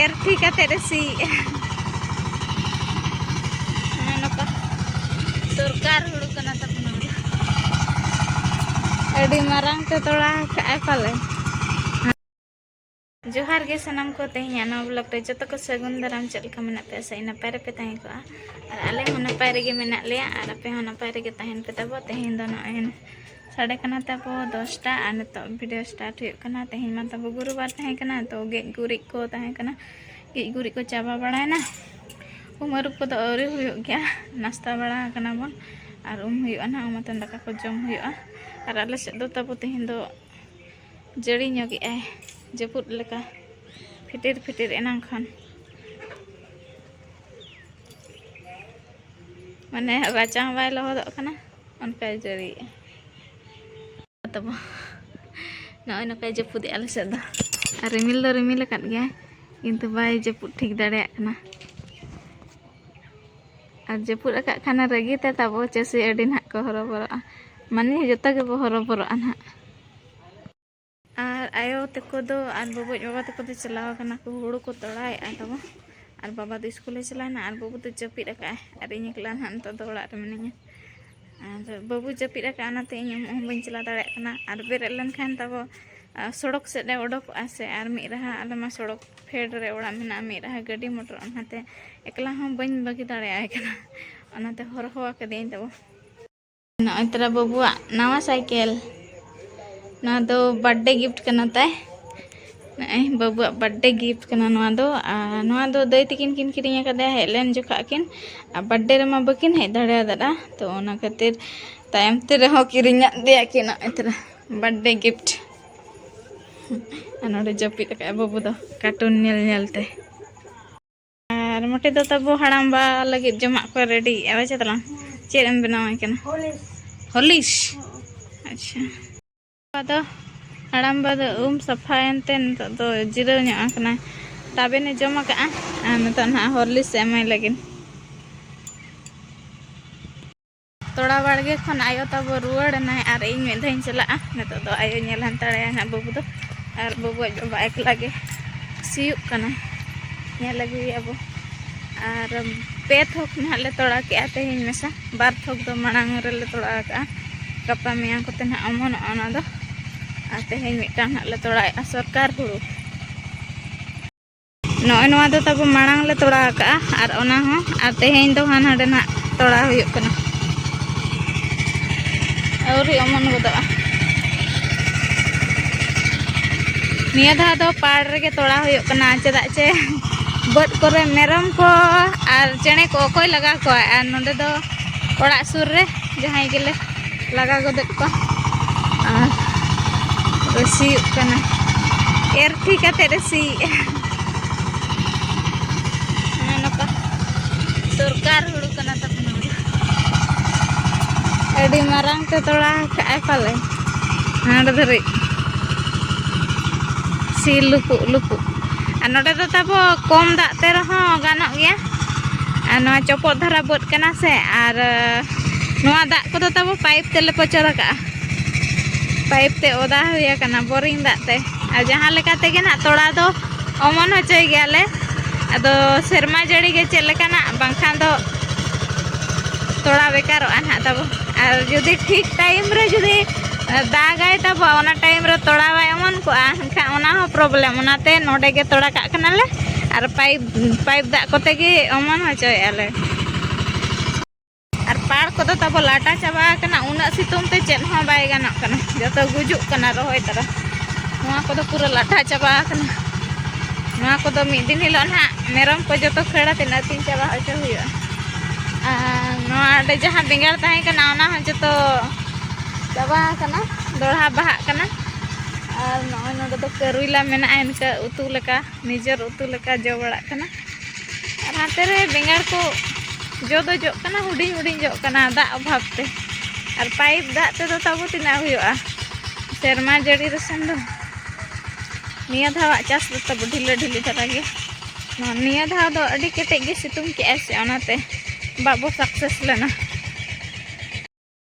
ᱮᱨ ᱴᱷᱤ ᱠᱟᱛᱮ ᱨᱮ ᱥᱤ ᱱᱚᱝᱠᱟ ᱥᱚᱨᱠᱟᱨ ᱦᱩᱲᱩ ᱠᱟᱱᱟ ᱛᱟᱵᱚᱱᱟ ᱟᱹᱰᱤ ᱢᱟᱨᱟᱝ ᱛᱮ ᱛᱚᱲᱟ ᱠᱟᱜᱼᱟᱭ ᱯᱟᱞᱮ ᱡᱚᱦᱟᱨ ᱜᱮ ᱥᱟᱱᱟᱢ ᱠᱚ ᱛᱮᱦᱮᱧ ᱱᱚᱣᱟ ᱵᱞᱚᱜ ᱨᱮ ᱡᱚᱛᱚ ᱠᱚ ᱥᱟᱹᱜᱩᱱ ᱫᱟᱨᱟᱢ ᱪᱮᱫ ᱞᱮᱠᱟ ᱢᱮᱱᱟᱜ ᱯᱮᱭᱟ ᱥᱮ ᱱᱟᱯᱟᱭ ᱨᱮᱯᱮ ᱛᱟᱦᱮᱸ ᱠᱚᱜᱼᱟ ᱟᱨ ᱟᱞᱮ ᱦᱚᱸ ᱱᱟᱯᱟᱭ ᱨᱮᱜᱮ ᱢᱮᱱᱟᱜ ᱞᱮᱭᱟ ᱟᱨ ᱟᱯᱮ ᱦᱚᱸ ᱱᱟᱯᱟᱭ ᱨᱮᱜᱮ ᱛᱟᱦᱮᱱ ᱯᱮ ᱛᱟᱵᱚ ᱛᱮᱦᱮᱧ ᱫᱚ ᱱᱚᱜᱼᱚᱭ ᱥᱟᱰᱮ ᱠᱟᱱᱟ ᱛᱟᱵᱚ ᱫᱚᱥᱴᱟ ᱟᱨ ᱱᱤᱛᱚᱜ ᱵᱷᱤᱰᱤᱭᱳ ᱥᱴᱟᱨᱴ ᱦᱩᱭᱩᱜ ᱠᱟᱱᱟ ᱛᱮᱦᱮᱧ ᱢᱟ ᱛᱟᱵᱚ ᱜᱩᱨᱩᱵᱟᱨ ᱛᱟᱦᱮᱸ ᱠᱟᱱᱟ ᱛᱚ ᱜᱮᱡ ᱜᱩᱨᱤᱡ ᱠᱚ ᱛᱟᱦᱮᱸ ᱠᱟᱱᱟ ᱜᱮᱡ ᱜᱩᱨᱤᱡ ᱠᱚ ᱪᱟᱵᱟ ᱵᱟᱲᱟᱭᱮᱱᱟ ᱩᱢ ᱟᱹᱨᱩᱵ ᱠᱚᱫᱚ ᱟᱹᱣᱨᱤ ᱦᱩᱭᱩᱜ ᱜᱮᱭᱟ ᱱᱟᱥᱛᱟ ᱵᱟᱲᱟ ᱟᱠᱟᱱᱟ ᱵᱚᱱ ᱟᱨ ᱩᱢ ᱦᱩᱭᱩᱜᱼᱟ ᱱᱟᱦᱟᱜ ᱩᱢ ᱟᱛᱮᱱ ᱫᱟᱠᱟ ᱠᱚ ᱡᱚᱢ ᱦᱩᱭᱩᱜᱼᱟ ᱟᱨ ᱟᱞᱮ ᱥᱮᱫ ᱫᱚ ᱛᱟᱵᱚ ᱛᱮᱦᱮᱧ ᱫᱚ ᱡᱟᱹᱲᱤ ᱧᱚᱜᱮᱜᱼᱟᱭ ᱡᱟᱹᱯᱩᱫ ᱞᱮᱠᱟ ᱯᱷᱤᱴᱤᱨ ᱯᱷᱤᱴᱤᱨ ᱮᱱᱟᱝ ᱠᱷᱚᱱ ᱢᱟᱱᱮ ᱨᱟᱪᱟ ᱦᱚᱸ ᱵᱟᱭ ᱞᱚᱦᱚᱫᱚᱜ ᱠᱟᱱᱟ ᱚᱱᱠᱟᱭ ᱡᱟᱹᱲᱤᱭᱮᱜᱼᱟ ᱛᱟᱵᱚ ᱱᱚᱜᱼᱚᱭ ᱱᱚᱝᱠᱟᱭ ᱡᱟᱹᱯᱩᱫᱮᱜᱼᱟ ᱟᱞᱮ ᱥᱮᱫ ᱫᱚ ᱟᱨ ᱨᱤᱢᱤᱞ ᱫᱚ ᱨᱤᱢᱤᱞ ᱟᱠᱟᱫ ᱜᱮᱭᱟᱭ ᱠᱤᱱᱛᱩ ᱵᱟᱭ ᱡᱟᱹᱯᱩᱫ ᱴᱷᱤᱠ ᱫᱟᱲᱮᱭᱟᱜ ᱠᱟᱱᱟ ᱟᱨ ᱡᱟᱹᱯᱩᱫ ᱟᱠᱟᱫ ᱠᱷᱟᱱ ᱨᱟᱹᱜᱤ ᱛᱮ ᱛᱟᱵᱚ ᱪᱟᱹᱥᱤ ᱟᱹᱰᱤ ᱱᱟᱦᱟᱜ ᱠᱚ ᱦᱚᱨᱚᱵᱚᱨᱚᱜᱼᱟ ᱢᱟᱱᱮ ᱡᱚᱛᱚ ᱜᱮᱵᱚ ᱦᱚᱨᱚᱵᱚᱨᱚᱜᱼᱟ ᱱᱟᱦᱟᱜ ᱟᱨ ᱟᱭᱳ ᱛᱟᱠᱚ ᱫᱚ ᱟᱨ ᱵᱟᱵᱚᱡ ᱵᱟᱵᱟ ᱛᱟᱠᱚ ᱫᱚ ᱪᱟᱞᱟᱣ ᱠᱟᱱᱟ ᱠᱚ ᱦᱩᱲᱩ ᱠᱚ ᱛᱚᱲᱟᱭᱮᱫᱼᱟ ᱛᱟᱵᱚ ᱟᱨ ᱵᱟᱵᱟ ᱫᱚ ᱥᱠᱩᱞᱮ ᱪᱟᱞᱟᱣᱱᱟ ᱟᱨ ᱵᱟᱹᱵᱩ ᱫᱚ ᱡᱟᱹᱯᱤᱫ ᱟᱠᱟᱫᱼᱟᱭ ᱟᱨ ᱤᱧ ᱮᱠᱞᱟ ᱱᱟᱦᱟᱜ ᱱᱤᱛᱚᱜ ᱫᱚ ᱚᱲᱟᱜ ᱨᱮ ᱢᱤᱱᱟᱹᱧᱟ ᱟᱨ ᱵᱟᱹᱵᱩ ᱡᱟᱹᱯᱤᱫ ᱟᱠᱟᱫᱼᱟ ᱚᱱᱟᱛᱮ ᱤᱧ ᱩᱢᱩᱜ ᱦᱚᱸ ᱵᱟᱹᱧ ᱪᱟᱞᱟᱣ ᱫᱟᱲᱮᱭᱟᱜ ᱠᱟᱱᱟ ᱟᱨ ᱵᱮᱨᱮᱫ ᱞᱮᱱᱠᱷᱟᱱ ᱛᱟᱵᱚ ᱥᱚᱲᱚᱠ ᱥᱮᱫ ᱨᱮ ᱚᱰᱚᱠᱚᱜᱼᱟ ᱥᱮ ᱟᱨ ᱢᱤᱫ ᱨᱟᱦᱟ ᱟᱞᱮ ᱢᱟ ᱥᱚᱲᱚᱠ ᱯᱷᱮᱰ ᱨᱮ ᱚᱲᱟᱜ ᱢᱮᱱᱟᱜᱼᱟ ᱢᱤᱫ ᱨᱟᱦᱟ ᱜᱟᱹᱰᱤ ᱢᱚᱴᱚᱨ ᱚᱱᱟᱛᱮ ᱮᱠᱞᱟ ᱦᱚᱸ ᱵᱟᱹᱧ ᱵᱟᱹᱜᱤ ᱫᱟᱲᱮᱭᱟᱭ ᱠᱟᱱᱟ ᱚᱱᱟᱛᱮ ᱦᱚᱨᱦᱚ ᱟᱠᱟᱫᱮᱭᱟᱹᱧ ᱛᱟᱵᱚ ᱱᱚᱜᱼᱚᱭ ᱛᱟᱨᱟ ᱵᱟᱹᱵᱩᱣᱟᱜ ᱱᱟᱣᱟ ᱥᱟᱭᱠᱮᱞ ᱱᱚᱣᱟ ᱫᱚ ᱵᱟᱨᱛᱷᱰᱮ ᱜᱤᱯᱷᱴ ᱠᱟᱱᱟ ᱛᱟᱭ ᱱᱚᱜᱼᱚᱭ ᱵᱟᱹᱵᱩᱣᱟᱜ ᱵᱟᱨᱛᱷᱰᱮ ᱜᱤᱯᱷᱴ ᱠᱟᱱᱟ ᱱᱚᱣᱟ ᱫᱚ ᱟᱨ ᱱᱚᱣᱟ ᱫᱚ ᱫᱟᱹᱭ ᱛᱟᱹᱠᱤᱱ ᱠᱤᱱ ᱠᱤᱨᱤᱧ ᱟᱠᱟᱫᱮᱭᱟ ᱦᱮᱡ ᱞᱮᱱ ᱡᱚᱠᱷᱟᱜ ᱠᱤᱱ ᱟᱨ ᱵᱟᱨᱛᱷᱰᱮ ᱨᱮᱢᱟ ᱵᱟᱹᱠᱤᱱ ᱦᱮᱡ ᱫᱟᱲᱮᱭᱟᱫᱟ ᱛᱚ ᱚᱱᱟ ᱠᱷᱟᱹᱛᱤᱨ ᱛᱟᱭᱚᱢ ᱛᱮ ᱨᱮᱦᱚᱸ ᱠᱤᱨᱤᱧᱟᱫ ᱫᱮᱭᱟ ᱠᱤᱱ ᱱᱚᱜᱼᱚᱭ ᱛᱟᱨᱟ ᱵᱟᱨᱛᱷᱰᱮ ᱜᱤᱯᱷᱴ ᱟᱨ ᱱᱚᱰᱮ ᱡᱟᱹᱯᱤᱫ ᱟᱠᱟᱫᱼᱟᱭ ᱵᱟᱹᱵᱩ ᱫᱚ ᱠᱟᱨᱴᱩᱱ ᱧᱮᱞ ᱧᱮᱞ ᱛᱮ ᱟᱨ ᱢᱚᱴᱮ ᱫᱚ ᱛᱟᱵᱚ ᱦᱟᱲᱟᱢᱵᱟ ᱞᱟᱹᱜᱤᱫ ᱡᱚᱢᱟᱜ ᱠᱚ ᱨᱮᱰᱤᱭᱮᱫᱼᱟ ᱵᱟᱪᱮ ᱛᱟᱞᱟᱝ ᱪᱮᱫ ᱮᱢ ᱵᱮᱱᱟᱣᱟᱭ ᱠᱟᱱᱟ ᱦᱚᱞᱤᱥ ᱟᱪᱪᱷᱟ ᱟᱫᱚ ᱦᱟᱲᱟᱢᱵᱟ ᱫᱚ ᱩᱢ ᱥᱟᱯᱷᱟᱭᱮᱱᱛᱮ ᱱᱤᱛᱚᱜ ᱫᱚ ᱡᱤᱨᱟᱹᱣ ᱧᱚᱜ ᱟᱠᱟᱱᱟᱭ ᱛᱟᱵᱮᱱᱮ ᱡᱚᱢ ᱟᱠᱟᱫᱼᱟ ᱟᱨ ᱱᱤᱛᱚᱜ ᱱᱟᱦᱟᱜ ᱦᱚᱨᱞᱤᱥ ᱮᱢᱟᱭ ᱞᱟᱹᱜᱤᱫ ᱛᱚᱲᱟ ᱵᱟᱲᱜᱮ ᱠᱷᱚᱱ ᱟᱭᱳ ᱛᱟᱵᱚ ᱨᱩᱣᱟᱹᱲ ᱮᱱᱟᱭ ᱟᱨ ᱤᱧ ᱢᱤᱫ ᱫᱷᱟᱣᱤᱧ ᱪᱟᱞᱟᱜᱼᱟ ᱱᱤᱛᱚᱜ ᱫᱚ ᱟᱭᱳ ᱧᱮᱞ ᱦᱟᱱᱛᱟᱲᱟᱭᱟ ᱦᱟᱸᱜ ᱵᱟᱹᱵᱩ ᱫᱚ ᱟᱨ ᱵᱟᱹᱵᱩᱣᱟᱜ ᱵᱟᱵᱟ ᱮᱠᱞᱟ ᱜᱮ ᱥᱤᱭᱳᱜ ᱠᱟᱱᱟ ᱧᱮᱞ ᱟᱹᱜᱩᱭᱮᱭᱟ ᱵᱚ ᱟᱨ ᱯᱮ ᱛᱷᱚᱠ ᱱᱟᱦᱟᱜ ᱞᱮ ᱛᱚᱲᱟ ᱠᱮᱜᱼᱟ ᱛᱮᱦᱮᱧ ᱢᱮᱥᱟ ᱵᱟᱨ ᱛᱷᱚᱠ ᱫᱚ ᱢᱟᱲᱟᱝ ᱨᱮᱞᱮ ᱛᱚᱲᱟ ᱟᱠᱟᱜᱼᱟ ᱜᱟᱯᱟ ᱢᱮᱭᱟᱝ ᱠᱚᱛᱮ ᱱᱟᱦᱟᱜ ᱚᱢᱚᱱᱚᱜᱼᱟ ᱚᱱᱟ ᱫᱚ ᱟᱨ ᱛᱮᱦᱮᱧ ᱢᱤᱫᱴᱟᱝ ᱱᱟᱦᱟᱜ ᱞᱮ ᱛᱚᱲᱟᱭᱮᱜᱼᱟ ᱥᱚᱨᱠᱟᱨ ᱦᱩᱲᱩ ᱱᱚᱜᱼᱚᱭ ᱱᱚᱣᱟ ᱫᱚ ᱛᱟᱵᱚ ᱢᱟᱲᱟᱝ ᱞᱮ ᱛᱚᱲᱟ ᱟᱠᱟᱜᱼᱟ ᱟᱨ ᱚᱱᱟ ᱦᱚᱸ ᱟᱨ ᱛᱮᱦᱮᱧ ᱫᱚ ᱦᱟᱱ ᱦᱟᱸᱰᱮ ᱱᱟᱜ ᱛᱚᱲᱟ ᱦᱩᱭᱩᱜ ᱠᱟᱱᱟ ᱟᱹᱣᱨᱤ ᱚᱢᱚᱱ ᱜᱚᱫᱚᱜᱼᱟ ᱱᱤᱭᱟᱹ ᱫᱷᱟᱣ ᱫᱚ ᱯᱟᱲ ᱨᱮᱜᱮ ᱛᱚᱲᱟ ᱦᱩᱭᱩᱜ ᱠᱟᱱᱟ ᱪᱮᱫᱟᱜ ᱪᱮ ᱵᱟᱹᱫᱽ ᱠᱚᱨᱮ ᱢᱮᱨᱚᱢ ᱠᱚ ᱟᱨ ᱪᱮᱬᱮ ᱠᱚ ᱚᱠᱚᱭ ᱞᱟᱜᱟ ᱠᱚᱣᱟ ᱟᱨ ᱱᱚᱰᱮ ᱫᱚ ᱚᱲᱟᱜ ᱥᱩᱨ ᱨᱮ ᱡᱟᱦᱟᱸᱭ ᱜᱮᱞᱮ ᱞᱟᱜᱟ ᱜᱚᱫᱮᱫ ᱠᱚᱣᱟ ᱟᱨ ᱨᱮ ᱥᱤᱭᱳᱜ ᱠᱟᱱᱟ ᱮᱨ ᱛᱷᱤ ᱠᱟᱛᱮ ᱨᱮ ᱥᱤᱭᱮᱜᱼᱟ ᱱᱚᱝᱠᱟ ᱫᱚᱨᱠᱟᱨ ᱦᱩᱲᱩ ᱠᱟᱱᱟ ᱛᱟᱵᱚᱱ ᱟᱹᱰᱤ ᱢᱟᱨᱟᱝ ᱛᱮ ᱛᱚᱲᱟ ᱠᱟᱜᱼᱟᱭ ᱯᱟᱞᱮ ᱦᱟᱸᱰ ᱫᱷᱟᱹᱨᱤᱡ ᱥᱤ ᱞᱩᱯᱩᱜ ᱞᱩᱯᱩᱜ ᱟᱨ ᱱᱚᱰᱮ ᱫᱚ ᱛᱟᱵᱚ ᱠᱚᱢ ᱫᱟᱜ ᱛᱮ ᱨᱮᱦᱚᱸ ᱜᱟᱱᱚᱜ ᱜᱮᱭᱟ ᱟᱨ ᱱᱚᱣᱟ ᱪᱚᱯᱚᱫ ᱫᱷᱟᱨᱟ ᱵᱟᱹᱫᱽ ᱠᱟᱱᱟ ᱥᱮ ᱟᱨ ᱱᱚᱣᱟ ᱫᱟᱜ ᱠᱚᱫᱚ ᱛᱟᱵᱚ ᱯᱟᱭᱤᱯ ᱛᱮᱞᱮ ᱯᱚᱪᱚᱨ ᱟᱠᱟᱜᱼᱟ ᱯᱟᱭᱤᱯ ᱛᱮ ᱚᱫᱟ ᱦᱩᱭ ᱟᱠᱟᱱᱟ ᱵᱳᱨᱤᱝ ᱫᱟᱜ ᱛᱮ ᱟᱨ ᱡᱟᱦᱟᱸ ᱞᱮᱠᱟ ᱛᱮᱜᱮ ᱱᱟᱜ ᱛᱚᱲᱟ ᱫᱚ ᱚᱢᱚᱱ ᱦᱚᱪᱚᱭ ᱜᱮᱭᱟᱞᱮ ᱟᱫᱚ ᱥᱮᱨᱢᱟ ᱡᱟᱹᱲᱤ ᱜᱮ ᱪᱮᱫ ᱞᱮᱠᱟᱱᱟᱜ ᱵᱟᱝᱠᱷᱟᱱ ᱫᱚ ᱛᱚᱲᱟ ᱵᱮᱠᱟᱨᱚᱜᱼᱟ ᱱᱟᱜ ᱛᱟᱵᱚ ᱟᱨ ᱡᱩᱫᱤ ᱴᱷᱤᱠ ᱴᱟᱭᱤᱢ ᱨᱮ ᱡᱩᱫᱤ ᱫᱟᱜᱟᱭ ᱛᱟᱵᱚ ᱚᱱᱟ ᱴᱟᱭᱤᱢ ᱨᱮ ᱛᱚᱲᱟ ᱵᱟᱭ ᱚᱢᱚᱱ ᱠᱚᱜᱼᱟ ᱮᱱᱠᱷᱟᱱ ᱚᱱᱟ ᱦᱚᱸ ᱯᱨᱚᱵᱞᱮᱢ ᱚᱱᱟᱛᱮ ᱱᱚᱰᱮ ᱜᱮ ᱛᱚᱲᱟ ᱠᱟᱜ ᱠᱟᱱᱟᱞᱮ ᱟᱨ ᱯᱟᱭᱤᱯ ᱯᱟᱭᱤᱯ ᱫᱟᱜ ᱠᱚᱛᱮ ᱜᱮ ᱚᱢᱚᱱ ᱦᱚᱪᱚᱭᱮᱫᱼᱟ ᱞᱮ ᱟᱨ ᱯᱟᱲ ᱠᱚᱫᱚ ᱛᱟᱵᱚ ᱞᱟᱴᱟ ᱪᱟᱵᱟ ᱟᱠᱟᱱᱟ ᱩᱱᱟᱹᱜ ᱥᱤᱛᱩᱝ ᱛᱮ ᱪᱮᱫ ᱦᱚᱸ ᱵᱟᱭ ᱜᱟᱱᱚᱜ ᱠᱟᱱᱟ ᱡᱚᱛᱚ ᱜᱩᱡᱩᱜ ᱠᱟᱱᱟ ᱨᱚᱦᱚᱭ ᱛᱟᱨᱟ ᱱᱚᱣᱟ ᱠᱚᱫᱚ ᱯᱩᱨᱟᱹ ᱞᱟᱴᱟ ᱪᱟᱵᱟ ᱟᱠᱟᱱᱟ ᱱᱚᱣᱟ ᱠᱚᱫᱚ ᱢᱤᱫ ᱫᱤᱱ ᱦᱤᱞᱳᱜ ᱱᱟᱦᱟᱜ ᱢᱮᱨᱚᱢ ᱠᱚ ᱡᱚᱛᱚ ᱠᱷᱟᱹᱲ ᱟᱛᱮ ᱟᱹᱛᱤᱧ ᱪᱟᱵᱟ ᱦᱚᱪᱚ ᱦᱩᱭᱩᱜᱼᱟ ᱟᱨ ᱱᱚᱣᱟ ᱚᱸᱰᱮ ᱡᱟᱦᱟᱸ ᱵᱮᱸᱜᱟᱲ ᱛᱟᱦᱮᱸ ᱠᱟᱱᱟ ᱚᱱᱟ ᱦᱚᱸ ᱡᱚᱛᱚ ᱪᱟᱵᱟ ᱟᱠᱟᱱᱟ ᱫᱚᱲᱦᱟ ᱵᱟᱦᱟᱜ ᱠᱟᱱᱟ ᱟᱨ ᱱᱚᱜᱼᱚᱭ ᱱᱚᱰᱮ ᱫᱚ ᱠᱟᱹᱨᱩᱭᱞᱟ ᱢᱮᱱᱟᱜᱼᱟ ᱤᱱᱠᱟᱹ ᱩᱛᱩ ᱞᱮᱠᱟ ᱱᱤᱡᱮᱨ ᱩᱛᱩ ᱞᱮᱠᱟ ᱡᱚ ᱵᱟᱲᱟᱜ ᱠᱟᱱᱟ ᱟᱨ ᱦᱟᱱᱛᱮ ᱨᱮ ᱵᱮᱸᱜᱟᱲ ᱠᱚ ᱡᱚ ᱫᱚ ᱡᱚᱜ ᱠᱟᱱᱟ ᱦᱩᱰᱤᱧ ᱦᱩᱰᱤᱧ ᱡᱚᱜ ᱠᱟᱱᱟ ᱫᱟᱜ ᱚᱵᱷᱟᱵ ᱛᱮ ᱟᱨ ᱯᱟᱭᱤᱯ ᱫᱟᱜ ᱛᱮᱫᱚ ᱛᱟᱵᱚ ᱛᱤᱱᱟᱹᱜ ᱦᱩᱭᱩᱜᱼᱟ ᱥᱮᱨᱢᱟ ᱡᱟᱹᱲᱤ ᱨᱮᱥᱮᱱ ᱫᱚ ᱱᱤᱭᱟᱹ ᱫᱷᱟᱣᱟᱜ ᱪᱟᱥ ᱫᱚ ᱛᱟᱵᱚ ᱰᱷᱤᱞᱟᱹ ᱰᱷᱤᱞᱤ ᱫᱷᱟᱨᱟ ᱜᱮ ᱱᱤᱭᱟᱹ ᱫᱷᱟᱣ ᱫᱚ ᱟᱹᱰᱤ ᱠᱮᱴᱮᱡ ᱜᱮ ᱥᱤᱛᱩᱝ ᱠᱮᱜᱼᱟᱭ ᱥᱮ ᱚᱱᱟᱛᱮ ᱵᱟᱵᱚ ᱥᱟᱠᱥᱮᱥ ᱞᱮᱱᱟ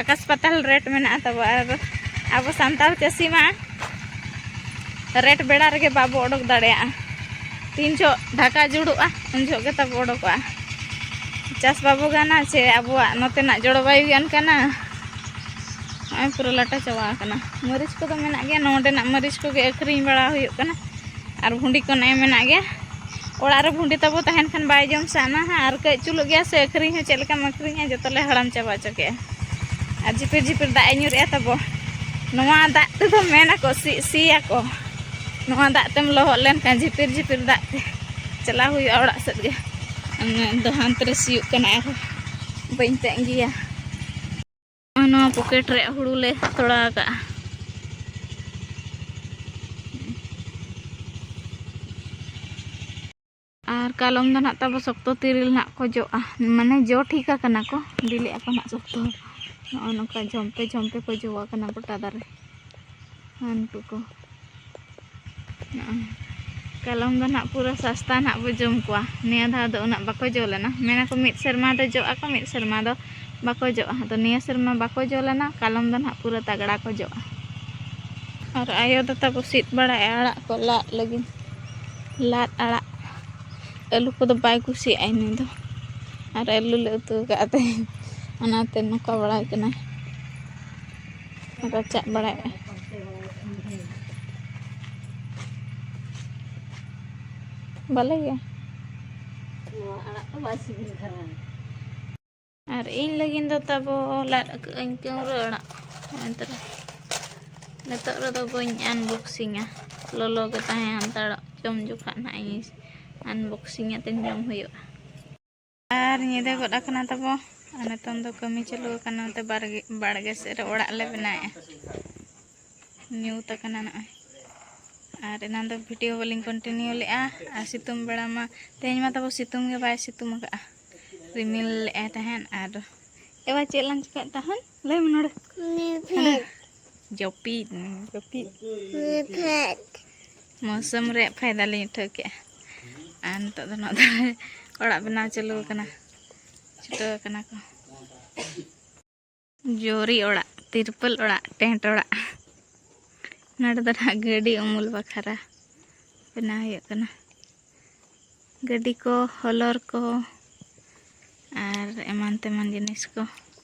ᱟᱠᱟᱥ ᱯᱟᱛᱟᱞ ᱨᱮᱴ ᱢᱮᱱᱟᱜᱼᱟ ᱛᱟᱵᱚ ᱟᱨ ᱟᱵᱚ ᱥᱟᱱᱛᱟᱲ ᱪᱟᱹᱥᱤ ᱢᱟ ᱨᱮᱴ ᱵᱮᱲᱟ ᱨᱮᱜᱮ ᱵᱟᱵᱚ ᱚᱰᱚᱠ ᱫᱟᱲᱮᱭᱟᱜᱼᱟ ᱛᱤᱱ ᱡᱚᱦᱚᱜ ᱰᱷᱟᱠᱟ ᱡᱩᱲᱩᱜᱼᱟ ᱩᱱ ᱡᱚᱦᱚᱜ ᱜᱮ ᱛᱟᱵᱚ ᱚᱰᱚᱠᱚᱜᱼᱟ ᱪᱟᱥ ᱵᱟᱵᱚ ᱜᱟᱱᱟ ᱥᱮ ᱟᱵᱚᱣᱟᱜ ᱱᱚᱛᱮᱱᱟᱜ ᱡᱚᱞᱵᱟᱭᱩ ᱜᱮ ᱚᱱᱠᱟᱱᱟ ᱱᱚᱜᱼᱚᱭ ᱯᱩᱨᱟᱹ ᱞᱟᱴᱟ ᱪᱟᱵᱟ ᱟᱠᱟᱱᱟ ᱢᱟᱹᱨᱤᱪ ᱠᱚᱫᱚ ᱢᱮᱱᱟᱜ ᱜᱮᱭᱟ ᱱᱚᱰᱮᱱᱟᱜ ᱢᱟᱹᱨᱤᱪ ᱠᱚᱜᱮ ᱟᱹᱠᱷᱨᱤᱧ ᱵᱟᱲᱟ ᱦᱩᱭᱩᱜ ᱠᱟᱱᱟ ᱟᱨ ᱵᱷᱩᱸᱰᱤ ᱠᱚ ᱱᱮᱜᱼᱮ ᱢᱮᱱᱟᱜ ᱜᱮᱭᱟ ᱚᱲᱟᱜ ᱨᱮ ᱵᱷᱩᱸᱰᱤ ᱛᱟᱵᱚ ᱛᱟᱦᱮᱱ ᱠᱷᱟᱱ ᱵᱟᱭ ᱡᱚᱢ ᱥᱟᱱᱟ ᱦᱟᱸᱜ ᱟᱨ ᱠᱟᱹᱡ ᱪᱩᱞᱩᱜ ᱜᱮᱭᱟ ᱥᱮ ᱟᱹᱠᱷᱨᱤᱧ ᱦᱚᱸ ᱪᱮᱫ ᱞᱮᱠᱟᱢ ᱟᱹᱠᱷᱨᱤᱧᱟ ᱡᱚᱛᱚ ᱞᱮ ᱦᱟᱲᱟᱢ ᱪᱟᱵᱟ ᱦᱚᱪᱚ ᱠᱮᱜᱼᱟ ᱟᱨ ᱡᱷᱤᱯᱤᱨ ᱡᱷᱤᱯᱤᱨ ᱫᱟᱜ ᱮ ᱧᱩᱨᱮᱜᱼᱟ ᱛᱟᱵᱚ ᱱᱚᱣᱟ ᱫᱟᱜ ᱛᱮᱫᱚ ᱢᱮᱱᱟᱠᱚ ᱥᱤ ᱥᱤᱭᱟᱠᱚ ᱱᱚᱣᱟ ᱫᱟᱜ ᱛᱮᱢ ᱞᱚᱦᱚᱫ ᱞᱮᱱᱠᱷᱟᱱ ᱡᱷᱤᱯᱤᱨ ᱡᱷᱤᱯᱤᱨ ᱫᱟᱜ ᱛᱮ ᱪᱟᱞᱟᱣ ᱦᱩᱭᱩᱜᱼᱟ ᱚᱲᱟᱜ ᱥᱮᱫ ᱜᱮ ᱫᱚ ᱦᱟᱱᱛᱮ ᱨᱮ ᱥᱤᱭᱳᱜ ᱠᱟᱱᱟ ᱟᱨᱦᱚᱸ ᱵᱟᱹᱧ ᱛᱟᱺᱜᱤᱭᱟ ᱱᱚᱣᱟ ᱯᱚᱠᱮᱴ ᱨᱮᱭᱟᱜ ᱦᱩᱲᱩ ᱞᱮ ᱛᱚᱲᱟ ᱟᱠᱟᱫᱼᱟ ᱟᱨ ᱠᱟᱞᱚᱢ ᱫᱚ ᱱᱟᱜ ᱛᱟᱵᱚ ᱥᱚᱠᱛᱚ ᱛᱤᱨᱤᱞ ᱱᱟᱜ ᱠᱚ ᱡᱚᱜᱼᱟ ᱢᱟᱱᱮ ᱡᱚ ᱴᱷᱤᱠ ᱟᱠᱟᱱᱟ ᱠᱚ ᱵᱤᱞᱤᱜ ᱟᱠᱚ ᱱᱟᱜ ᱥᱚᱠᱛᱚ ᱱᱚᱜᱼᱚ ᱱᱚᱝᱠᱟ ᱡᱷᱚᱢᱯᱮ ᱡᱷᱚᱢᱯᱮ ᱠᱚ ᱡᱚ ᱟᱠᱟᱱᱟ ᱜᱚᱴᱟ ᱫᱟᱨᱮ ᱦᱟᱱᱠᱩ ᱠᱚ ᱠᱟᱞᱚᱢ ᱫᱚ ᱱᱟᱜ ᱯᱩᱨᱟᱹ ᱥᱟᱥᱛᱟ ᱱᱟᱜ ᱵᱚ ᱡᱚᱢ ᱠᱚᱣᱟ ᱱᱤᱭᱟᱹ ᱫᱷᱟᱣ ᱫᱚ ᱩᱱᱟᱹᱜ ᱵᱟᱠᱚ ᱡᱚ ᱞᱮᱱᱟ ᱢᱮᱱᱟᱠᱚ ᱢᱤᱫ ᱥᱮᱨᱢᱟ ᱫᱚ ᱡᱚᱜ ᱟᱠᱚ ᱢᱤᱫ ᱥᱮᱨᱢᱟ ᱫᱚ ᱵᱟᱠᱚ ᱡᱚᱜᱼᱟ ᱟᱫᱚ ᱱᱤᱭᱟᱹ ᱥᱮᱨᱢᱟ ᱵᱟᱠᱚ ᱡᱚ ᱞᱮᱱᱟ ᱠᱟᱞᱚᱢ ᱫᱚ ᱱᱟᱜ ᱯᱩᱨᱟᱹ ᱛᱟᱜᱽᱲᱟ ᱠᱚ ᱡᱚᱜᱼᱟ ᱟᱨ ᱟᱭᱳ ᱫᱚ ᱛᱟᱵᱚ ᱥᱤᱫ ᱵᱟᱲᱟᱭᱟ ᱟᱲᱟᱜ ᱠᱚ ᱞᱟᱫ ᱞᱟᱹᱜᱤᱫ ᱞᱟᱫ ᱟᱲᱟᱜ ᱟᱹᱞᱩ ᱠᱚᱫᱚ ᱵᱟᱭ ᱠᱩᱥᱤᱭᱟᱜᱼᱟ ᱩᱱᱤ ᱫᱚ ᱟᱨ ᱟᱹᱞᱩ ᱞᱮ ᱩᱛᱩ ᱟᱠᱟᱫ ᱛᱮ ᱚᱱᱟᱛᱮ ᱱᱚᱝᱠᱟ ᱵᱟᱲᱟᱭ ᱠᱟᱱᱟᱭ ᱨᱟᱪᱟᱜ ᱵᱟᱲᱟᱭᱮᱫᱼᱟ ᱵᱟᱞᱮ ᱜᱮ ᱱᱚᱣᱟ ᱟᱲᱟᱜ ᱫᱚ ᱵᱟᱭ ᱥᱤᱵᱤᱞ ᱠᱟᱱᱟ ᱟᱨ ᱤᱧ ᱞᱟᱹᱜᱤᱫ ᱫᱚ ᱛᱟᱵᱚ ᱞᱟᱫ ᱟᱠᱟᱫ ᱟᱹᱧ ᱠᱟᱹᱣᱨᱟᱹ ᱟᱲᱟᱜ ᱮᱱᱛᱮ ᱱᱤᱛᱚᱜ ᱨᱮᱫᱚ ᱵᱟᱹᱧ ᱟᱱᱵᱚᱠᱥᱤᱝᱟ ᱞᱚᱞᱚ ᱜᱮ ᱛᱟᱦᱮᱸ ᱦᱟᱱᱛᱟᱲᱚᱜ ᱡᱚᱢ ᱡᱚᱠᱷᱟᱜ ᱱᱟᱜ ᱤᱧ ᱟᱱᱵᱚᱠᱥᱤᱝ ᱟᱛᱮᱧ ᱡᱚᱢ ᱦᱩᱭᱩᱜᱼᱟ ᱟᱨ ᱧᱤᱫᱟᱹ ᱜᱚᱫ ᱟᱠᱟᱱᱟ ᱛᱟᱵᱚ ᱟᱨ ᱱᱤᱛᱚᱝ ᱫᱚ ᱠᱟᱹᱢᱤ ᱪᱟᱹᱞᱩ ᱟᱠᱟᱱᱟ ᱱᱚᱛᱮ ᱵᱟᱲᱜᱮ ᱵᱟᱲᱜᱮ ᱥᱮᱫ ᱨᱮ ᱚᱲᱟᱜ ᱞᱮ ᱵᱮᱱᱟᱣᱮᱫᱼᱟ ᱧᱩᱛ ᱟᱠᱟᱱᱟ ᱱᱚᱜᱼᱚᱭ ᱟᱨ ᱮᱱᱟᱱ ᱫᱚ ᱵᱷᱤᱰᱤᱭᱳ ᱵᱟᱹᱞᱤᱧ ᱠᱚᱱᱴᱤᱱᱤᱭᱩ ᱞᱮᱫᱼᱟ ᱟᱨ ᱥᱤᱛᱩᱝ ᱵᱮᱲᱟ ᱢᱟ ᱛᱮᱦᱮᱧ ᱢᱟ ᱛᱟᱵᱚ ᱥᱤᱛᱩᱝ ᱜᱮ ᱵᱟᱭ ᱥᱤᱛᱩᱝ ᱟᱠᱟᱫᱼᱟ ᱨᱤᱢᱤᱞ ᱞᱮᱫᱼᱟᱭ ᱛᱟᱦᱮᱸᱫ ᱟᱨ ᱮᱵᱟᱨ ᱪᱮᱫ ᱞᱟᱝ ᱪᱤᱠᱟᱹᱭᱮᱫ ᱛᱟᱦᱮᱸᱫ ᱞᱟᱹᱭ ᱢᱮ ᱱᱚᱰᱮ ᱡᱟᱹᱯᱤᱫ ᱡᱟᱹᱯᱤᱫ ᱢᱳᱥᱩᱢ ᱨᱮᱭᱟᱜ ᱯᱷᱟᱭᱫᱟ ᱞᱤᱧ ᱩᱴᱷᱟᱹᱣ ᱠᱮᱜᱼᱟ ᱟᱨ ᱱᱤᱛᱚᱜ ᱫᱚ ᱱᱚᱣᱟ ᱫᱚ ᱚᱲᱟᱜ ᱵᱮᱱᱟᱣ ᱪᱟᱹᱞᱩ ᱟᱠᱟᱱᱟ ᱪᱷᱩᱴᱟᱹᱣ ᱟᱠᱟᱱᱟ ᱠᱚ ᱡᱳᱨᱤ ᱚᱲᱟᱜ ᱛᱤᱨᱯᱟᱹᱞ ᱚᱲᱟᱜ ᱴᱮᱸᱴ ᱚᱲᱟᱜ ᱱᱚᱰᱮ ᱫᱚ ᱱᱟᱦᱟᱜ ᱜᱟᱹᱰᱤ ᱩᱢᱩᱞ ᱵᱟᱠᱷᱨᱟ ᱵᱮᱱᱟᱣ ᱦᱩᱭᱩᱜ ᱠᱟᱱᱟ ᱜᱟᱹᱰᱤ ᱠᱚ ᱦᱚᱞᱚᱨ ᱠᱚ ᱟᱨ ᱮᱢᱟᱱ ᱛᱮᱢᱟᱱ ᱡᱤᱱᱤᱥ ᱠᱚ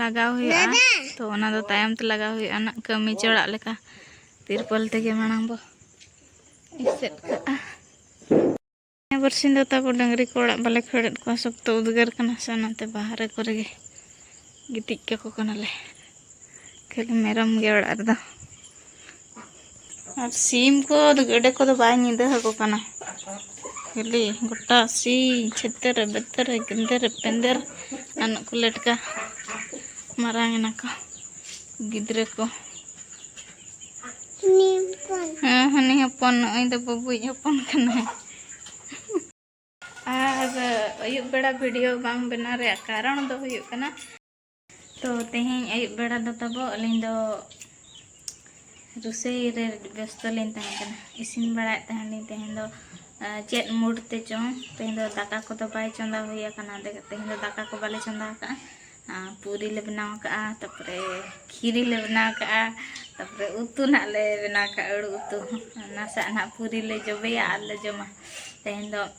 ᱞᱟᱜᱟᱣ ᱦᱩᱭᱩᱜᱼᱟ ᱛᱚ ᱚᱱᱟ ᱫᱚ ᱛᱟᱭᱚᱢ ᱛᱮ ᱞᱟᱜᱟᱣ ᱦᱩᱭᱩᱜᱼᱟ ᱱᱟᱜ ᱠᱟᱹᱢᱤ ᱪᱚᱲᱟᱜ ᱞᱮᱠᱟ ᱛᱤᱨᱯᱚᱞ ᱛᱮᱜᱮ ᱢᱟᱲᱟᱝ ᱵᱚ ᱮᱥᱮᱫ ᱠᱟᱜᱼᱟ ᱵᱟᱨᱥᱤᱧ ᱫᱚ ᱛᱟᱵᱚ ᱰᱟᱹᱝᱨᱤ ᱠᱚ ᱚᱲᱟᱜ ᱵᱟᱞᱮ ᱠᱷᱟᱹᱲᱮᱫ ᱠᱚᱣᱟ ᱥᱚᱠᱛᱚ ᱩᱫᱽᱜᱟᱹᱨ ᱠᱟᱱᱟ ᱥᱮ ᱚᱱᱟᱛᱮ ᱵᱟᱦᱨᱮ ᱠᱚᱨᱮ ᱜᱮ ᱜᱤᱛᱤᱡ ᱠᱟᱠᱚ ᱠᱟᱱᱟᱞᱮ ᱠᱷᱟᱹᱞᱤ ᱢᱮᱨᱚᱢ ᱜᱮ ᱚᱲᱟᱜ ᱨᱮᱫᱚ ᱟᱨ ᱥᱤᱢ ᱠᱚ ᱜᱮᱰᱮ ᱠᱚᱫᱚ ᱵᱟᱭ ᱧᱤᱫᱟᱹ ᱟᱠᱚ ᱠᱟᱱᱟ ᱠᱷᱟᱹᱞᱤ ᱜᱚᱴᱟ ᱥᱤ ᱪᱷᱮᱛᱮᱨ ᱵᱮᱛᱮᱨ ᱜᱮᱸᱫᱮᱨ ᱯᱮᱸᱫᱮᱨ ᱟᱱᱚᱜ ᱠᱚ ᱞᱮᱴᱠᱟ ᱢᱟᱨᱟᱝ ᱮᱱᱟ ᱠᱚ ᱜᱤᱫᱽᱨᱟᱹ ᱠᱚ ᱦᱮᱸ ᱦᱟᱹᱱᱤ ᱦᱚᱯᱚᱱ ᱱᱚᱜᱼᱚᱭ ᱫᱚ ᱵᱟᱹᱵᱩᱭᱤᱡ ᱦᱚᱯᱚᱱ ᱠᱟᱱᱟᱭ ᱟᱨ ᱟᱹᱭᱩᱵ ᱵᱮᱲᱟ ᱵᱷᱤᱰᱤᱭᱳ ᱵᱟᱝ ᱵᱮᱱᱟᱣ ᱨᱮᱭᱟᱜ ᱠᱟᱨᱚᱱ ᱫᱚ ᱦᱩᱭᱩᱜ ᱠᱟᱱᱟ ᱛᱚ ᱛᱮᱦᱮᱧ ᱟᱹᱭᱩᱵ ᱵᱮᱲᱟ ᱫᱚ ᱛᱟᱵᱚ ᱟᱹᱞᱤᱧ ᱫᱚ ᱨᱩᱥᱟᱹᱭ ᱨᱮ ᱵᱮᱥᱛᱚ ᱞᱤᱧ ᱛᱟᱦᱮᱸ ᱠᱟᱱᱟ ᱤᱥᱤᱱ ᱵᱟᱲᱟᱭᱮᱫ ᱛᱟᱦᱮᱱ ᱞᱤᱧ ᱛᱮᱦᱮᱧ ᱫᱚ ᱪᱮᱫ ᱢᱩᱰ ᱛᱮ ᱪᱚᱝ ᱛᱮᱦᱮᱧ ᱫᱚ ᱫᱟᱠᱟ ᱠᱚᱫᱚ ᱵᱟᱭ ᱪᱚᱸᱫᱟ ᱦᱩᱭ ᱟᱠᱟᱱᱟ ᱛᱮᱦᱮᱧ ᱫᱚ ᱫᱟᱠᱟ ᱠᱚ ᱵᱟᱞᱮ ᱪᱚᱸᱫᱟ ᱟᱠᱟᱫᱼᱟ ᱯᱩᱨᱤ ᱞᱮ ᱵᱮᱱᱟᱣ ᱟᱠᱟᱫᱼᱟ ᱛᱟᱨᱯᱚᱨᱮ ᱠᱷᱤᱨᱤ ᱞᱮ ᱵᱮᱱᱟᱣ ᱟᱠᱟᱫᱼᱟ ᱛᱟᱨᱯᱚᱨᱮ ᱩᱛᱩ ᱱᱟᱜ ᱞᱮ ᱵᱮᱱᱟᱣ ᱟᱠᱟᱫᱼᱟ ᱟᱹᱲᱩ ᱩᱛᱩ ᱱᱟᱥᱮᱭᱟᱜ ᱱᱟᱜ ᱯᱩᱨᱤ ᱞᱮ ᱡᱚᱵᱮᱭᱟ ᱟᱨ ᱞᱮ ᱡᱚᱢᱟ ᱛᱮᱦᱮᱧ ᱫᱚ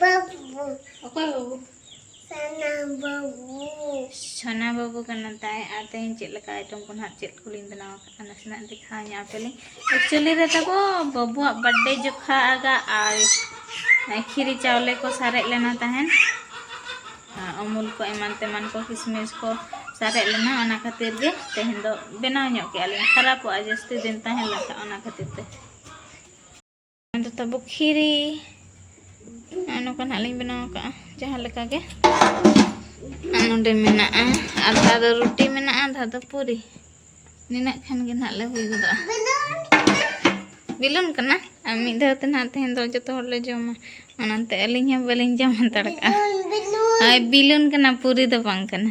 ᱵᱟᱹᱵᱩ ᱚᱠᱚᱭ ᱵᱟᱹᱵᱩ ᱥᱟᱱᱟ ᱵᱟᱹᱵᱩ ᱥᱟᱱᱟ ᱵᱟᱹᱵᱩ ᱠᱟᱱᱟ ᱛᱟᱭ ᱟᱨ ᱛᱮᱦᱮᱧ ᱪᱮᱫ ᱞᱮᱠᱟ ᱟᱭᱴᱚᱢ ᱠᱚ ᱱᱟᱦᱟᱜ ᱪᱮᱫ ᱠᱚᱞᱤᱧ ᱵᱮᱱᱟᱣ ᱟᱠᱟᱫᱼᱟ ᱱᱟᱥᱮᱱᱟᱜ ᱫᱮᱠᱷᱟᱣ ᱧᱟᱢ ᱯᱮᱞᱤᱧ ᱮᱠᱪᱩᱭᱮᱞᱤ ᱨᱮ ᱛᱟᱠᱚ ᱵᱟᱹᱵᱩᱣᱟᱜ ᱵᱟᱨᱛᱷᱰᱮ ᱡᱚᱠᱷᱟ ᱟᱜᱟ ᱟᱨ ᱠᱷᱤᱨᱤ ᱪᱟᱣᱞᱮ ᱠᱚ ᱥᱟᱨᱮᱡ ᱞᱮᱱᱟ ᱛᱟᱦᱮᱱ ᱚᱢᱩᱞ ᱠᱚ ᱮᱢᱟᱱ ᱛᱮᱢᱟᱱ ᱠᱚ ᱠᱤᱥᱢᱤᱥ ᱠᱚ ᱥᱟᱨᱮᱡ ᱞᱮᱱᱟ ᱚᱱᱟ ᱠᱷᱟᱹᱛᱤᱨ ᱜᱮ ᱛᱮᱦᱮᱧ ᱫᱚ ᱵᱮᱱᱟᱣ ᱧᱚᱜ ᱠᱮᱜᱼᱟ ᱞᱤᱧ ᱠᱷᱟᱨᱟᱯᱚᱜᱼᱟ ᱡᱟᱹᱥᱛᱤ ᱫᱤᱱ ᱛᱟᱦᱮᱸ ᱞᱮᱱᱠᱷᱟᱱ ᱚᱱᱟ ᱠᱷᱟᱹᱛᱤᱨ ᱛᱮ ᱟᱫᱚ ᱛᱟᱵᱚ ᱠᱷᱤᱨᱤ ᱱᱚᱝᱠᱟ ᱱᱟᱜ ᱞᱤᱧ ᱵᱮᱱᱟᱣ ᱟᱠᱟᱫᱼᱟ ᱡᱟᱦᱟᱸ ᱞᱮᱠᱟ ᱜᱮ ᱱᱚᱰᱮ ᱢᱮᱱᱟᱜᱼᱟ ᱟᱫᱷᱟ ᱫᱚ ᱨᱩᱴᱤ ᱢᱮᱱᱟᱜᱼᱟ ᱟᱫᱷᱟ ᱫᱚ ᱯᱩᱨᱤ ᱱᱤᱱᱟᱹᱜ ᱠᱷᱟᱱ ᱜᱮ ᱱᱟᱜ ᱞᱮ ᱦᱩᱭ ᱜᱚᱫᱚᱜᱼᱟ ᱵᱤᱞᱚᱱ ᱠᱟᱱᱟ ᱟᱨ ᱢᱤᱫ ᱫᱷᱟᱣ ᱛᱮ ᱱᱟᱜ ᱛᱮᱦᱮᱧ ᱫᱚ ᱡᱚᱛᱚ ᱦᱚᱲ ᱞᱮ ᱡᱚᱢᱟ ᱚᱱᱟᱛᱮ ᱟᱹᱞᱤᱧ ᱦᱚᱸ ᱵᱟᱹᱞᱤᱧ ᱡᱚᱢ ᱦᱟᱛᱟᱲ ᱠᱟᱜᱼᱟ ᱵᱤᱞᱚᱱ ᱠᱟᱱᱟ ᱯᱩᱨᱤ ᱫᱚ ᱵᱟᱝ ᱠᱟᱱᱟ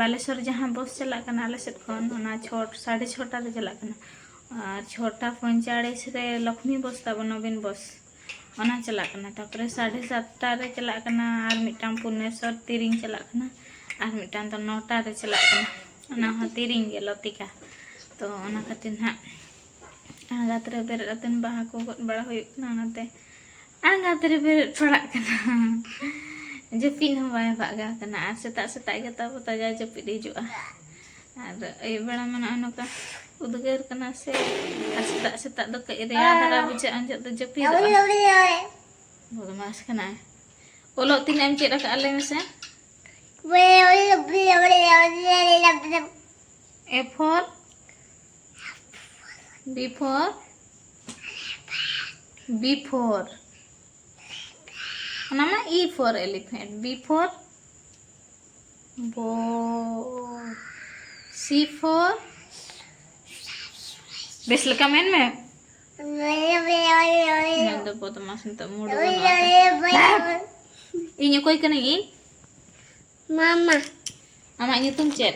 ᱵᱟᱞᱮᱥᱚᱨ ᱡᱟᱦᱟᱸ ᱵᱚᱥ ᱪᱟᱞᱟᱜ ᱠᱟᱱᱟ ᱟᱞᱮ ᱥᱮᱫ ᱠᱷᱚᱱ ᱚᱱᱟ ᱪᱷᱚᱴ ᱥᱟᱲᱮ ᱪᱷᱚᱴᱟ ᱨᱮ ᱪᱟᱞᱟᱜ ᱠᱟᱱᱟ ᱟᱨ ᱪᱷᱚᱴᱟ ᱯᱚᱸᱭᱪᱟᱲᱤᱥ ᱨᱮ ᱞᱚᱠᱷᱢᱤ ᱵᱚᱥ ᱛᱟᱵᱚ ᱱᱚᱵᱤᱱ ᱵᱚᱥ ᱚᱱᱟ ᱪᱟᱞᱟᱜ ᱠᱟᱱᱟ ᱛᱟᱯᱚᱨᱮ ᱥᱟᱲᱮ ᱥᱟᱛᱴᱟ ᱨᱮ ᱪᱟᱞᱟᱜ ᱠᱟᱱᱟ ᱟᱨ ᱢᱤᱫᱴᱟᱝ ᱯᱩᱨᱱᱮᱥᱚᱨ ᱛᱤᱨᱤᱧ ᱪᱟᱞᱟᱜ ᱠᱟᱱᱟ ᱟᱨ ᱢᱤᱫᱴᱟᱝ ᱫᱚ ᱱᱚᱴᱟ ᱨᱮ ᱪᱟᱞᱟᱜ ᱠᱟᱱᱟ ᱚᱱᱟ ᱦᱚᱸ ᱛᱤᱨᱤᱧ ᱜᱮ ᱞᱚᱛᱤᱠᱟ ᱛᱚ ᱚᱱᱟ ᱠᱷᱟᱹᱛᱤᱨ ᱱᱟᱦᱟᱜ ᱨᱟᱛ ᱨᱮ ᱵᱮᱨᱮᱫ ᱠᱟᱛᱮᱫ ᱵᱟᱦᱟ ᱠᱚ ᱜᱚᱫ ᱵᱟᱲᱟ ᱦᱩᱭᱩᱜ ᱠᱟᱱᱟ ᱚᱱᱟᱛᱮ ᱟᱸᱜᱟᱛ ᱨᱮ ᱵᱮᱨᱮᱫ ᱯᱟᱲᱟᱜ ᱠᱟᱱᱟ ᱡᱟᱹᱯᱤᱫ ᱦᱚᱸ ᱵᱟᱭ ᱵᱷᱟᱜᱟᱣ ᱠᱟᱱᱟ ᱟᱨ ᱥᱮᱛᱟᱜ ᱥᱮᱛᱟᱜ ᱜᱮ ᱛᱟᱵᱚ ᱛᱟᱡᱟ ᱡᱟᱹᱯᱤᱫ ᱦᱤᱡᱩᱜᱼᱟ ᱟᱨ ᱟᱹᱭᱩᱵ ᱵᱮᱲᱟ ᱢᱟ ᱱᱚᱜᱼᱚᱭ ᱱᱚᱝᱠᱟ ᱩᱫᱽᱜᱟᱹᱨ ᱠᱟᱱᱟ ᱥᱮ ᱟᱨ ᱥᱮᱛᱟᱜ ᱥᱮᱛᱟᱜ ᱫᱚ ᱠᱟᱹᱡ ᱨᱮᱭᱟᱲ ᱫᱷᱟᱨᱟ ᱵᱩᱡᱷᱟᱹᱜᱼᱟ ᱩᱱ ᱡᱚᱦᱚᱜ ᱫᱚ ᱡᱟᱹᱯᱤᱫᱚᱜᱼᱟ ᱵᱚᱫᱢᱟᱥ ᱠᱟᱱᱟᱭ ᱚᱞᱚᱜ ᱛᱤᱱᱟᱹᱜ ᱮᱢ ᱪᱮᱫ ᱟᱠᱟᱫᱼᱟ ᱞᱟᱹᱭ ᱢᱮᱥᱮ A for B for B for ᱚᱱᱟ ᱢᱟ E for elephant B for ball C for ᱵᱮᱥ ᱞᱮᱠᱟ ᱢᱮᱱ ᱢᱮ ᱢᱮᱱ ᱫᱚ ᱵᱚᱫᱢᱟᱥ ᱱᱤᱛᱚᱜ ᱢᱩᱰ ᱤᱧ ᱚᱠᱚᱭ ᱠᱟᱹᱱᱟᱹᱧ ᱤᱧ ᱢᱟᱢᱟ ᱟᱢᱟᱜ ᱧᱩᱛᱩᱢ ᱪᱮᱫ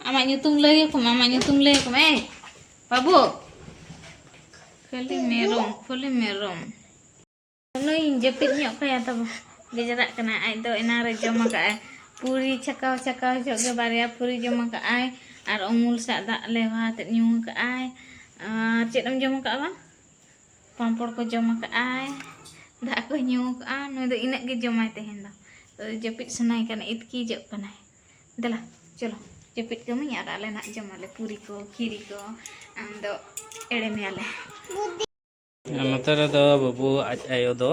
ᱟᱢᱟᱜ ᱧᱩᱛᱩᱢ ᱞᱟᱹᱭ ᱟᱠᱚ ᱢᱮ ᱟᱢᱟᱜ ᱧᱩᱛᱩᱢ ᱞᱟᱹᱭ ᱟᱠᱚ ᱢᱮ ᱵᱟᱹᱵᱩ ᱠᱷᱟᱹᱞᱤ ᱢᱮᱨᱚᱢ ᱠᱷᱟᱹᱞᱤ ᱢᱮᱨᱚᱢ ᱱᱩᱭ ᱡᱟᱹᱯᱤᱫ ᱧᱚᱜ ᱠᱟᱭᱟ ᱛᱟᱵᱚ ᱜᱮᱡᱨᱟᱜ ᱠᱟᱱᱟ ᱟᱡ ᱫᱚ ᱮᱱᱟ ᱨᱮ ᱡᱚᱢ ᱟᱠᱟᱫ ᱟᱭ ᱯᱩᱨᱤ ᱪᱷᱟᱠᱟᱣ ᱪᱷᱟᱠᱟᱣ ᱡᱚᱜ ᱜᱮ ᱵᱟᱨᱭᱟ ᱯᱩᱨᱤ ᱡᱚᱢ ᱟᱠᱟᱫ ᱟᱭ ᱟᱨ ᱩᱢᱩᱞ ᱥᱟᱜ ᱫᱟᱜ ᱞᱮᱣᱦᱟ ᱛᱮ ᱧᱩ ᱟᱠᱟᱫ ᱟᱭ ᱟᱨ ᱪᱮᱫ ᱮᱢ ᱡᱚᱢ ᱟᱠᱟᱫ ᱵᱟᱝ ᱯᱟᱢᱯᱚᱲ ᱠᱚ ᱡᱚᱢ ᱟᱠᱟᱫᱼᱟᱭ ᱫᱟᱜ ᱠᱚ ᱧᱩ ᱟᱠᱟᱫᱼᱟ ᱱᱩᱭ ᱫᱚ ᱤᱱᱟᱹᱜ ᱜᱮ ᱡᱚᱢᱟᱭ ᱛᱮᱦᱮᱧ ᱫᱚ ᱡᱟᱹᱯᱤᱫ ᱥᱟᱱᱟᱭ ᱠᱟᱱᱟ ᱤᱛᱠᱤᱡᱚᱜ ᱠᱟᱱᱟᱭ ᱫᱮᱞᱟ ᱪᱚᱞᱚ ᱡᱟᱹᱯᱤᱫ ᱠᱟᱹᱢᱤᱧ ᱟᱨ ᱟᱞᱮ ᱱᱟᱜ ᱡᱚᱢᱟᱞᱮ ᱯᱩᱨᱤ ᱠᱚ ᱠᱷᱤᱨᱤ ᱠᱚ ᱟᱢ ᱫᱚ ᱮᱲᱮ ᱢᱮᱭᱟᱞᱮ ᱱᱚᱛᱮ ᱨᱮᱫᱚ ᱵᱟᱹᱵᱩ ᱟᱡ ᱟᱭᱳ ᱫᱚ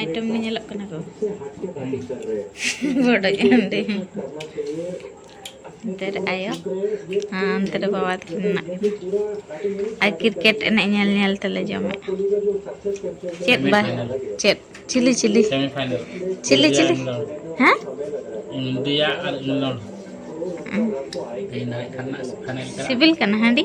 ᱟᱭᱴᱮᱢ ᱜᱮ ᱧᱮᱞᱚᱜ ᱠᱟᱱᱟ ᱠᱚ ᱵᱚᱰᱚᱡ ᱦᱟᱺᱰᱤ ᱚᱱᱛᱮ ᱨᱮ ᱟᱭᱳ ᱟᱨ ᱚᱱᱛᱮ ᱨᱮ ᱵᱟᱵᱟ ᱛᱟᱹᱠᱤᱱ ᱢᱮᱱᱟᱜ ᱠᱤᱱᱟ ᱟᱨ ᱠᱨᱤᱠᱮᱴ ᱮᱱᱮᱡ ᱧᱮᱞ ᱧᱮᱞ ᱛᱮᱞᱮ ᱡᱚᱢᱮᱫ ᱪᱮᱫ ᱵᱟᱭ ᱪᱮᱫ ᱪᱤᱞᱤ ᱪᱤᱞᱤ ᱪᱤᱞᱤ ᱪᱤᱞᱤ ᱦᱮᱸ ᱤᱱᱰᱤᱭᱟ ᱟᱨ ᱤᱝᱞᱚᱱᱰ ᱥᱤᱵᱤᱞ ᱠᱟᱱᱟ ᱦᱟᱺᱰᱤ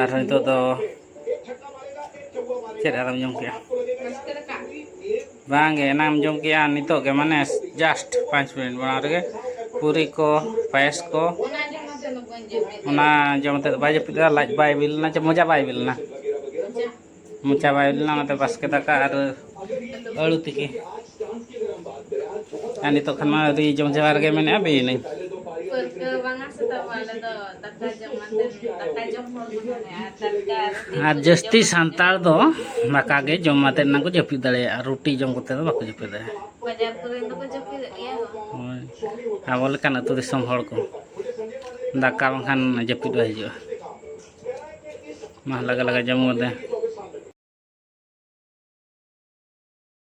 ᱟᱨ ᱱᱤᱛᱚᱜ ᱫᱚ ᱪᱮᱫ ᱟᱨᱮᱢ ᱡᱚᱢ ᱠᱮᱜᱼᱟ ᱵᱟᱝᱜᱮ ᱮᱱᱟᱢ ᱡᱚᱢ ᱠᱮᱜᱼᱟ ᱱᱤᱛᱚᱜ ᱜᱮ ᱢᱟᱱᱮ ᱡᱟᱥᱴ ᱯᱟᱸᱪ ᱢᱤᱱᱤᱴ ᱢᱟᱲᱟᱝ ᱨᱮᱜᱮ ᱯᱩᱨᱤ ᱠᱚ ᱯᱟᱭᱮᱥ ᱠᱚ ᱚᱱᱟ ᱡᱚᱢ ᱠᱟᱛᱮᱫ ᱵᱟᱭ ᱡᱟᱹᱯᱤᱫ ᱞᱮᱫᱟ ᱞᱟᱡ ᱵᱟᱭ ᱵᱤ ᱞᱮᱱᱟ ᱪᱮ ᱢᱚᱡᱟ ᱵᱟᱭ ᱵᱤ ᱞᱮᱱᱟ ᱢᱚᱪᱟ ᱵᱟᱭ ᱞᱮᱱᱟ ᱚᱱᱟᱛᱮ ᱵᱟᱥᱠᱮ ᱫᱟᱠᱟ ᱟᱨ ᱟᱹᱲᱩ ᱛᱤᱠᱤ ᱟᱨ ᱱᱤᱛᱚᱜ ᱠᱷᱟᱱ ᱢᱟ ᱟᱹᱰᱤ ᱡᱚᱢ ᱡᱟᱣᱟ ᱨᱮᱜᱮ ᱢᱮᱱᱮᱫᱼᱟ ᱵᱤᱭᱮᱱᱟᱹᱧ ᱟᱨ ᱡᱟᱹᱥᱛᱤ ᱥᱟᱱᱛᱟᱲ ᱫᱚ ᱫᱟᱠᱟ ᱜᱮ ᱡᱚᱢ ᱟᱛᱮ ᱱᱟᱝ ᱠᱚ ᱡᱟᱹᱯᱤᱫ ᱫᱟᱲᱮᱭᱟᱜᱼᱟ ᱨᱩᱴᱤ ᱡᱚᱢ ᱠᱟᱛᱮ ᱫᱚ ᱵᱟᱠᱚ ᱡᱟᱹᱯᱤᱫ ᱫᱟᱲᱮᱭᱟᱜᱼᱟ ᱟᱵᱚ ᱞᱮᱠᱟᱱ ᱟᱹᱛᱩ ᱫᱤᱥᱚᱢ ᱦᱚᱲ ᱠᱚ ᱫᱟᱠᱟ ᱵᱟᱝᱠᱷᱟᱱ ᱡᱟᱹᱯᱤᱫ ᱵᱟᱭ ᱦᱤᱡᱩᱜᱼᱟ ᱢᱟ ᱞᱟᱜᱟ ᱞᱟᱜᱟ ᱡᱚᱢ ᱜᱚᱫᱟ